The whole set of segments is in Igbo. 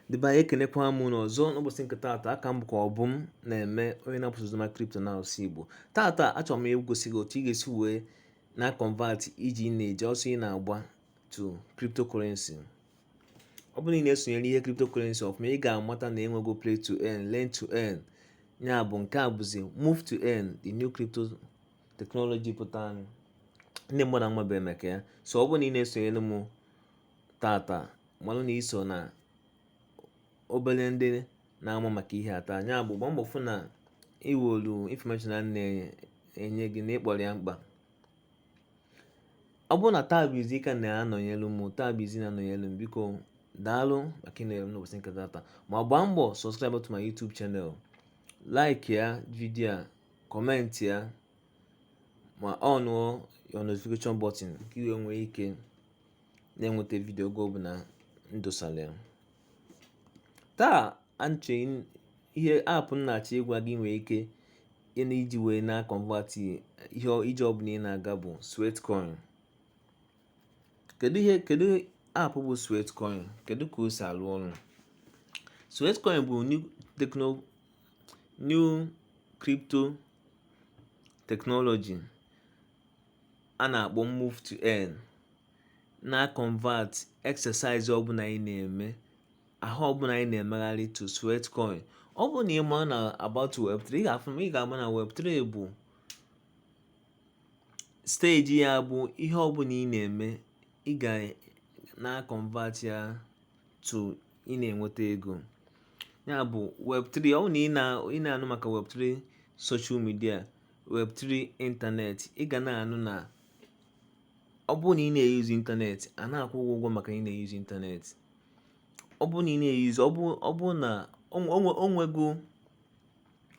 Ndị be anyị ekenekwa m unu ọzọ n'ụbọchị nke taata aha m bụkwa Obumneme onye na-apush oziọma crypto na asụsụ Igbo taata achọrọ m igosi gị otu ị ga-esi wee na convert ije ị na-eje ọsọ ị na-agba to cryptocurrency ọ bụrụ na ị na-esonyere ihe cryptocurrency ọfụma ị ga-amata na enwego play to earn learn to earn ya bụ nke a bụzi move to earn the new crypto technology pụtara ndị mmadụ amabeghị maka ya so ọ bụrụ na ị na-esonyere m tata malụ na i so na obere ndị na-ama maka ihe a taa ya bụ gbaa mbọ fụ na i welu infọmeshọn a na-enye gị na ị kpọrọ ya mkpa ọ bụrụ na taa bụ izizi ka ị na-anọnyelu m taa bụ izizi ị na-anọnyelu m biko daalụ maka ịnọnyere m n'ụbọchị nke tata ma gbaa mbọ subscribe to my YouTube channel like ya vidiyo a kọmentị ya ma ọnụọ your notification button ka i wee nwee ike na-enweta vidio oge ọbụla m dosara ya taa anche ihe aapụ m na-achọ ịgwa gị i nwere ike ị na-eji wee na convert ihe ije ọbụla ị na-aga bụ sweatcoin kedu ihe kedu aapụ bụ sweatcoin kedu ka o si alụ ọrụ sweatcoin bụ new techno new crypto technology a na-akpọ move to earn na convert exercise ọbụla ị na-eme ahụ ọbụla ị na-emegharị to sweatcoin ọ bụrụ na ị ma na about web3 ị ga-afụ ị ga-ama na web3 bụ steji ya bụ ihe ọbụla ị na-eme ị ga na convert ya to ị na-enweta ego ya bụ web3 ọ bụrụ na ị na-anụ maka web3 social media Web3 ịntanetị, ị ga na-anụ na ọ bụrụ na ị na-eyuzu ịntanetị, a na-akwụ gị ụgwọ maka ị na-eyuzu ịntanetị. Ọ bụrụ na ị na-eyuzu, ọ bụrụ ọ bụrụ na o nwe o nwego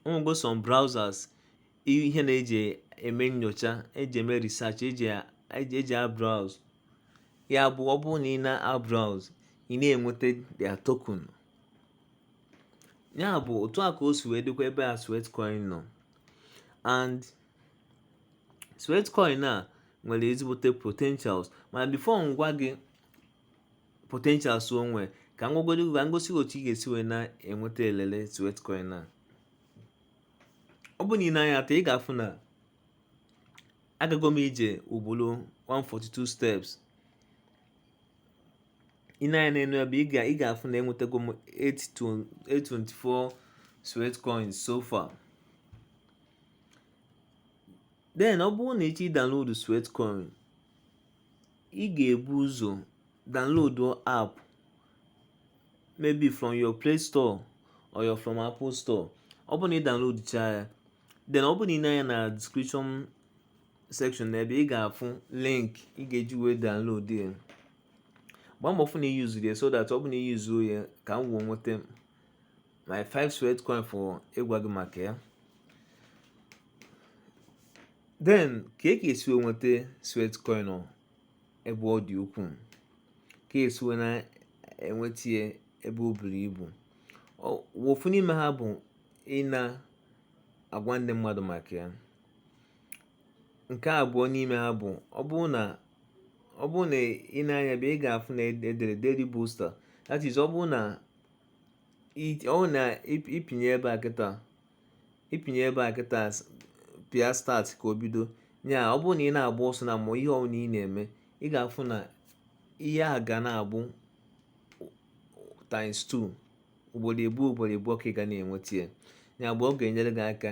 o nwego some browsers ihe na-eji eme nyocha, eji eme research, eji eji eji a browse. Ya bụ ọ bụrụ na ị na-a browse, ị na-enweta their token. Ya bụ otu a ka o si wee dịkwa ebe a Sweatcoin nọ. and sweatcoin a nwere ezigbote potentials mana before m gwa gị potentials o nwee ka m gwagoro gị ka m gosi otu ị ga-esi wee na-enweta elele sweatcoin a ọ bụrụ na i nee anya taa ị ga-afụ na agago m ije ugboro 142 steps ị nee anya n'enu ebe a ị ga-afụ na enwetago m 824 sweat coins so far then ọ bụrụ na ị chọọ download sweat coin ị ga-ebu ụzọ download app maybe from your play store or your from apple store ọ bụrụ na ị download cha ya then ọ bụrụ na ị nee anya na description section na ebe ị ga-afụ link ị ga-eji wee download ya gbaa mbọ fụ na i useru ya so that ọ bụ na i useo ya ka m wee nweta my 5 sweat coin for ịgwa gị maka ya then ka e ka e si wee nweta sweat coin ebe ọ dị ukwuu ka e si wee na-enweta ya ebe o buru ibu ofu n'ime ha bụ ị na-agwa ndị mmadụ maka ya Nke abụọ n'ime ha bụ ọ bụrụ na ọ bụrụ na ị nee anya ebe a ị ga-afụ na e dere Daily Booster that is ọ bụrụ na ọ bụrụ na ịpịnye ebe a kịta ịpịnye ebe a kịta pịa start ka o bido ya ọ bụrụ na ị na-agba ọsọ na ma ihe ọbụla ị na-eme ị ga-afụ na ihe a ga na-abụ times 2 ugboro abụọ ugboro abụọ ka ị ga na-enweta ya ya bụ ọ ga-enyere gị aka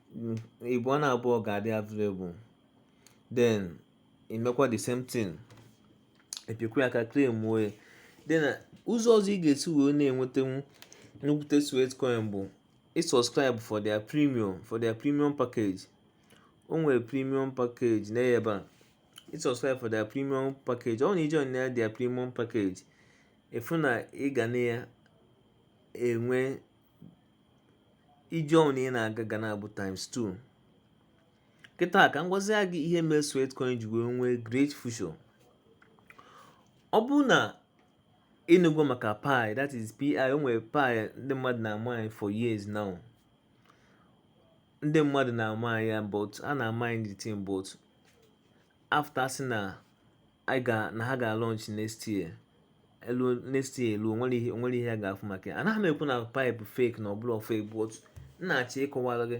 ịbụ ọ na-abụọ ga-adị available then i mekwa the same thing ị pịakwa ya aka claimụọ ya then ụzọ ọzọ ị ga-esi wee na-enwetanwu nnukwute sweat coin bụ ị subscribe for their premium for their premium package o nwere premium package na ebe a ị subscribe for their premium package ọ na i jee na their premium package ị fụ na ị ga na ya enwe ije ọbụla ị na-aga ga na-abụ times 2 kịta ka m gwazie gị ihe mere Sweatcoin ji wee nwee great future ọ bụrụ na ị nụgo maka pi that is pi o nwere pi ndị mmadụ na-amine for years now ndị mmadụ na-amine ya but a na-amine the thing but after sị na anyị ga na ha ga launch next year eluo next year eluo o nwere ihe o nwere ihe a ga-afụ maka ya anaghị m ekwu na pi bụ fake na ọ bụrọ fake but m na-achọ ịkọwara gị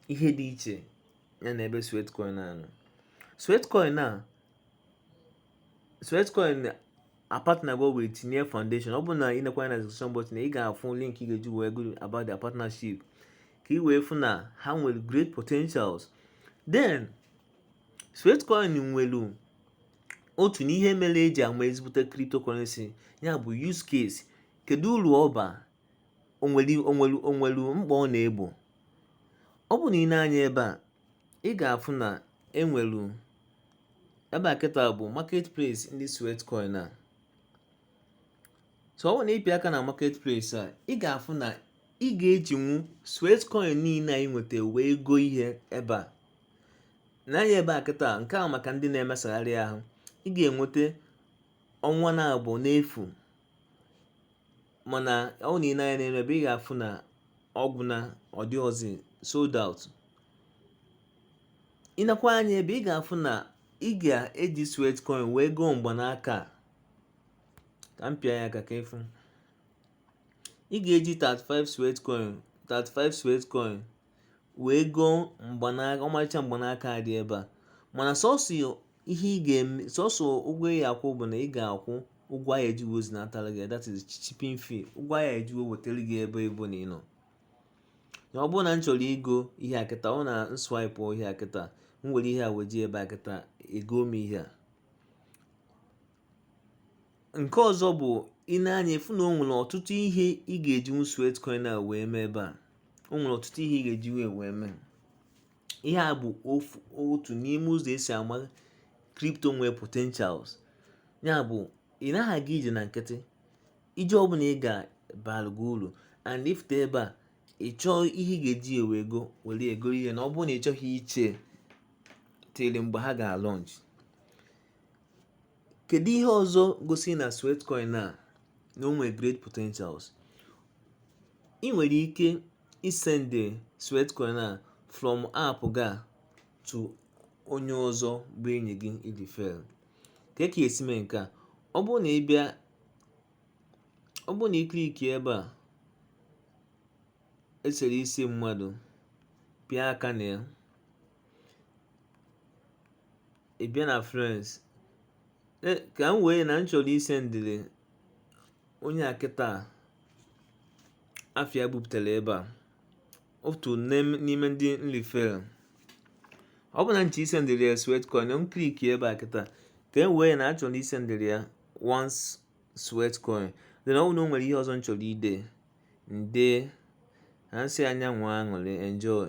ihe dị iche ya na ebe sweatcoin a nọ sweatcoin a sweatcoin apartnergo with Near foundation ọ bụrụ na ị nekwa na description button ị ga-afụ link ị ga-eji wee gụọ about their partnership ka ị wee fụ na ha nwere great potentials then Sweatcoin nwere otu n'ihe mere eji ama ezigbote cryptocurrency ya bụ use case kedu uru ọ ba o nwere mkpa ọ na-egbo ọ bụ na i nee anya ebe a ị ga-afụ na enwere ebe a kịta bụ marketplace ndị Sweatcoin a so ọ bụ na ị pịa aka na marketplace a ị ga-afụ na ị ga-ejinwu Sweatcoin niile i nweta wee go ihe ebe a nee anya ebe a kịta nke a maka ndị na-emesagharị ahụ ị ga-enweta ọnwa naabọ n'efu mana ọ bụ na i lee anya n'elu ebe ị ga-afụ na ọ gwụna ọ dịrọzi sold out i neekwa anya ebe a ị ga-afụ na ị ga-eji Sweatcoin wee goo mgbanaka ka m pịa ya aka ka ị fụ ị ga-eji 35 Sweatcoin wee goo mgbanaka ọmarịcha mgbanaka a dị ebe a mana sọsọ ihe ị ga-eme sọsọ ụgwọ ị ga-akwụ bụ na ị ga-akwụ ụgwọ a ga-eji wee zinatara gị that is shipping fee ụgwọ a ga-eji wee wetara gị ebe ọbụna ị nọ ọ bụrụ na m chọrọ igo ihe a kịta ọ bụ na m swipe ihe a kịta m were ihe a weje ebe a kịta egoo m ihe a nke ọzọ bụ i nee anya ị fụ na o nwere ọtụtụ ihe ị ga-ejinwu Sweatcoin a wee mee ebe a o nwere ọtụtụ ihe ị ga-eji wee wee mee ihe a bụ otu n'ime ụzọ esi ama crypto nwere potentials ya bụ ị naghị aga ije na nkịtị ije ọbụla ị ga bara gị uru and ị fụta ebe a ị chọọ ihe ị ga-eji wee go were go ihe na ọ bụrụ na ị chọghị iche tere mgbe ha ga-alaunch Kedu ihe ọzọ gosi na Sweatcoin a na o nwere great potentials? Ị nwere ike isende Sweatcoin a from app ga to onye ọzọ bụ enyi gị ị refer. Kee ka esi mee nke a? Ọ bụrụ na ị click ebe a esere isi mmadụ pịa aka na ya ị bịa na friends, ka m wee na m chọrọ isendere onye a kịta afa ya pụtara ebe a otu n'ime ndị m refer ọ bụ na m chọọ isendere ya sweatcoin m click ebe a kịta ka e wee na achọrọ isendere ya one sweatcoin then ọ bụ na o nwere ihe ọzọ m chọrọ ide m dee m sị ya nwee aṅụrị enjoy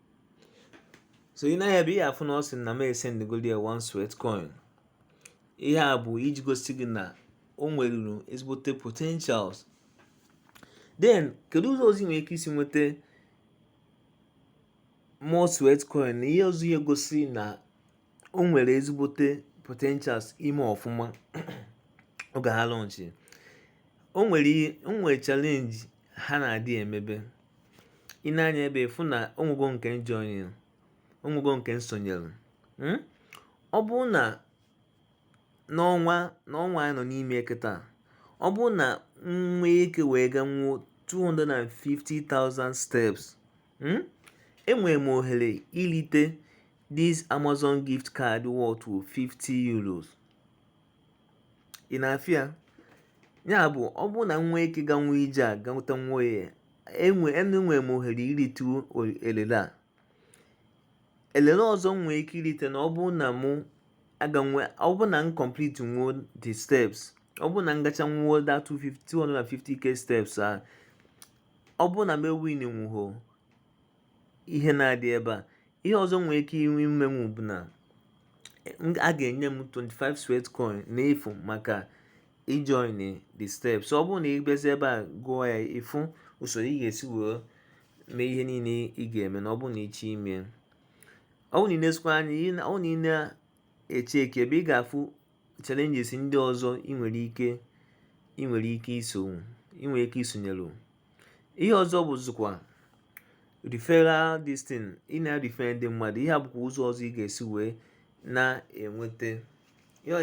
so i nee anya ebe ị ga-afụ na ọ sị na m esendgoli ya one sweat coin ihe a bụ iji gosi gị na o nweruru ezigbote potentials then kedu ụzọ ọzọ i nwere ike isi nweta more sweat coin na ihe ọzọ ihe gosi na o nwere ezigbote potentials ime ọfụma oge ha launchi o nwere challenge ha na-adị emebe i nee anya ebe ị fụ na o nwego nke m join o nwego nke m sonyere hmm? ọ bụrụ na n'ọnwa n'ọnwa anyị nọ n'ime kịta ọ bụrụ na m nwee ike wee ganwuo 250,000 steps hmm? enwere m ohere ilite this Amazon gift card worth 50 euros ị na-afụ ya ya bụ ọ bụrụ na m nwee ike ganwuo ije a ganwuta n'ọnwa a enwe enwe m ohere irite elele a elele ọzọ m nwee ike irite na ọ bụrụ na mụ aganwu ọ bụrụ na m complete nwuo the steps ọ bụrụ na m gacha nwuo that 250k steps a ọ bụrụ na m ewin nwuho ihe na-adị ebe a ihe ọzọ nwere ike inwe imenwu bụ na a ga-enye m 25 sweat coin n'efu maka ijoin the steps ọ bụrụ na ị bịazi ebe a gụọ ya ị fụ usoro ị ga-esi wee mee ihe niile ị ga-eme na ọ bụrụ na ị chọọ ime ọ bụrụ na i neezikwa anya ọ na ị na-echeck ebe ị ga-afụ challenges ndị ọzọ ị nwere ike ị nwere ike iso ị nwere ike isonyere ihe ọzọ bụzikwa referral this thing ị na-erefer ndị mmadụ ihe a bụkwa ụzọ ọzọ ị ga-esi wee na-enweta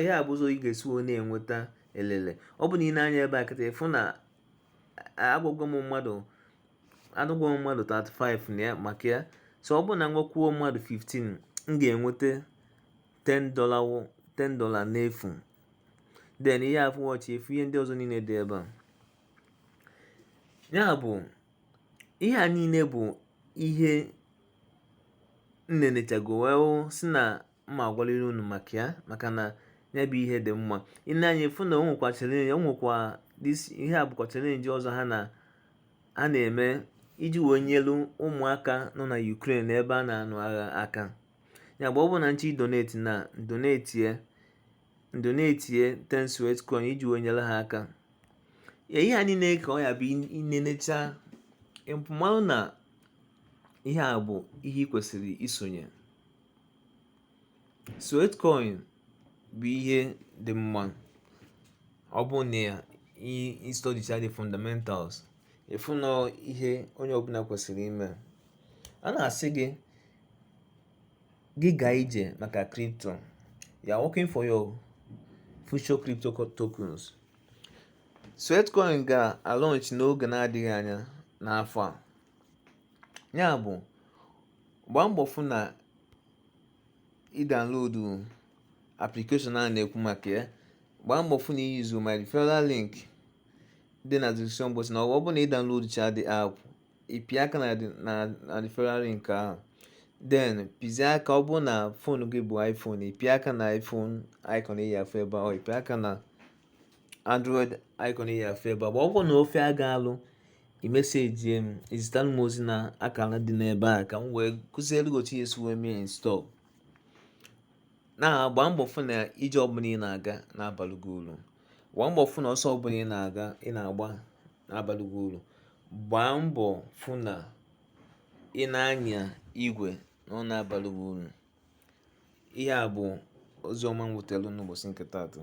ihe a bụ ụzọ ị ga-esi wee na-enweta elele ọ bụ na i nee anya ebe a kịta ị fụ na agwagwo m mmadụ addigwo m mmadụ 35 na ya maka ya so ọ bụ na m gwakwuo mmadụ 15 m ga-enweta 10 dollar 10 dollar n'efu then ị ga-afụ watch efu ihe ndị ọzọ niile dị ebe a ya bụ ihe a niile bụ ihe m nenechago wee hụ sị na m ma-agwaliri unu maka ya maka na ya bụ ihe dị mma i nee anya ị fụ na o nwekwa challenge o nwekwa ihe a bụkwa challenge ọzọ ha na a na-eme iji wee nyelu ụmụaka nọ na Ukraine ebe a na-anụ agha aka ya bụ ọ bụ na m chọọ idonate m adonatie m donatie ten sweat coin iji wee nyere ha aka ihe a niile ka ọ ya-abụ ị nenecha ị malụ na ihe a bụ ihe ị kwesịrị isonye sweat coin bụ ihe dị mma ọ bụ na ị studycha the fundamentals ị fụ na ihe onye ọbụla kwesịrị ime a na-asị gị Gị gaa ije maka crypto. You are working for your future crypto tokens. Sweatcoin ga-alọnch n'oge na-adịghị anya n'afọ a. Ya bụ, gbaa mbọ fụ na ị downloadu application a na-ekwu maka ya. Gbaa mbọ fụ na ị yuzu my referral link dị na description box na ọ bụ na ị download cha the app ị pịa aka na the referral link ahụ then pịzie aka ọ bụ na phone gị bụ iPhone ị pịa aka na iPhone icon ị ya-afụ ebe a ị pịa aka na android icon ị ya-afụ ebe a ọ bụ na ọ fịa gị alụ ị message m ị zitere m ozi na akara dị n'ebe a ka m wee kụziere gị otu ị ya-esi wee mee install na-agba mbọ fụ na ije ọbụla ị na-aga na-abalụ gị uru gbaa mbọ fụ na ọsọ ọbụla ị na-aga ị na-agba na-abalụ gị uru. Gbaa mbọ fụ na ị na-anya igwe na ọ na-abalụ gị uru. Ihe a bụ ozi ọma m wetara unu n'ụbọchị nke taata.